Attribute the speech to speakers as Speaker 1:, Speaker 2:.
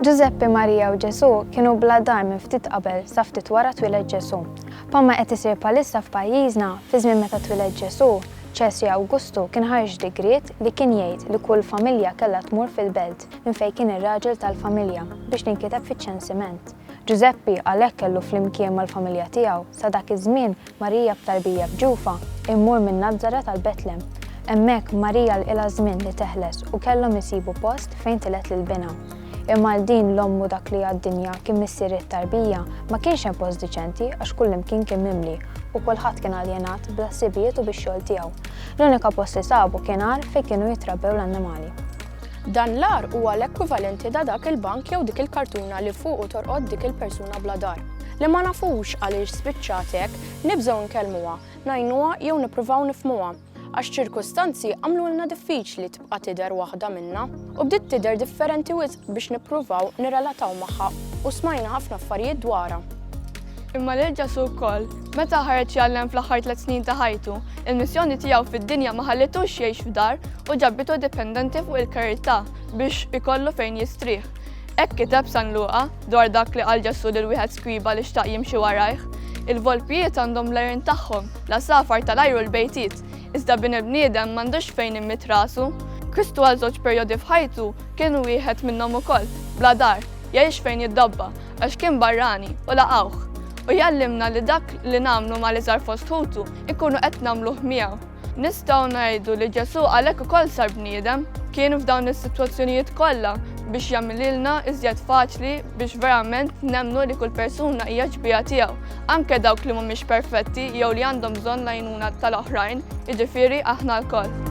Speaker 1: Ġużeppi, Marija u Ġesu kienu bla dar minn ftit qabel sa ftit wara twiled Ġesu. Palma qed isir palissa f'pajjiżna, fi żmien meta twiled Ġesu, Ċesri Awgustu kien ħarġ digriet li kien jgħid li kull familja kellha tmur fil-belt minn fejn kien ir-raġel tal-familja biex tinkiteb fiċ-ċensiment. Ġużeppi għalhekk kellu flimkien mal-familja tiegħu sa dak iż-żmien Marija b'tarbija f'ġufha, immur minn Nazaret għal Betlem. Hemmhekk, Marija lqilha żmien li teħles u kellhom isibu post fejn tilgħet lil binha. Imma għal din l-omm u dak li għad-dinja kien missier it-tarbija, ma kienx hemm post diċenti għax kullimkien kien mimli u kulħadd kien aljenat bl-ħsibijiet u bix-xogħol tiegħu. L-unika post li sabu kien għar fejn kienu jitrabbew l-annimali. Dan
Speaker 2: l-agħar huwa l-ekwivalenti ta' dak il-bank jew dik il-kartuna li fuqu torqod dik il-persuna bla dar. Li ma nafux għaliex spiċċat hekk, nibżgħu nkellmuha, ngħinuha jew nippruvaw nifhmuha, għax ċirkustanzi għamlulna diffiċli tibqa' tidher waħda minna. U bdiet tidher differenti wisq biex nippruvaw nirrelataw magħha u smajna ħafna affarijiet dwarha. Imma lil
Speaker 3: Ġesù wkoll, meta ħareġ jgħallem fl-aħħar tliet snin ta' ħajtu, il-missjoni tiegħu fid-dinja ma ħallitux jgħix f'dar u ġabitu dipendenti fuq il-karità biex ikollu fejn jistrieħ. Hekk kiteb San Luqa dwar dak li qal Ġesù lil wieħed skriba li xtaq jimxi warajh. Il-volpijiet għandhom l-għerien tagħhom, l-għasafar tal-ajru l-bejtiet, iżda bin il-bniedem m'għandux fejn immit rasu. Kristu għal żewġ perjodi f'ħajtu kien wieħed minnhom ukoll, bla dar, jgħix fejn jiddabba, għax kien barrani u laqgħuh, u jgħallimna li dak li nagħmlu mal-iżgħar fost ħutu nkunu qed nagħmluh miegħu. Nistgħu ngħidu li Ġesù għalhekk ukoll sar bniedem, kien f'dawn is-sitwazzjonijiet kollha biex jagħmililna iżjed faċli biex verament nemmnu li kull persuna hija xbieha tiegħu, anke dawk li mhumiex perfetti jew li għandhom bżonn l-għajnuna tal-oħrajn, jiġifieri aħna lkoll.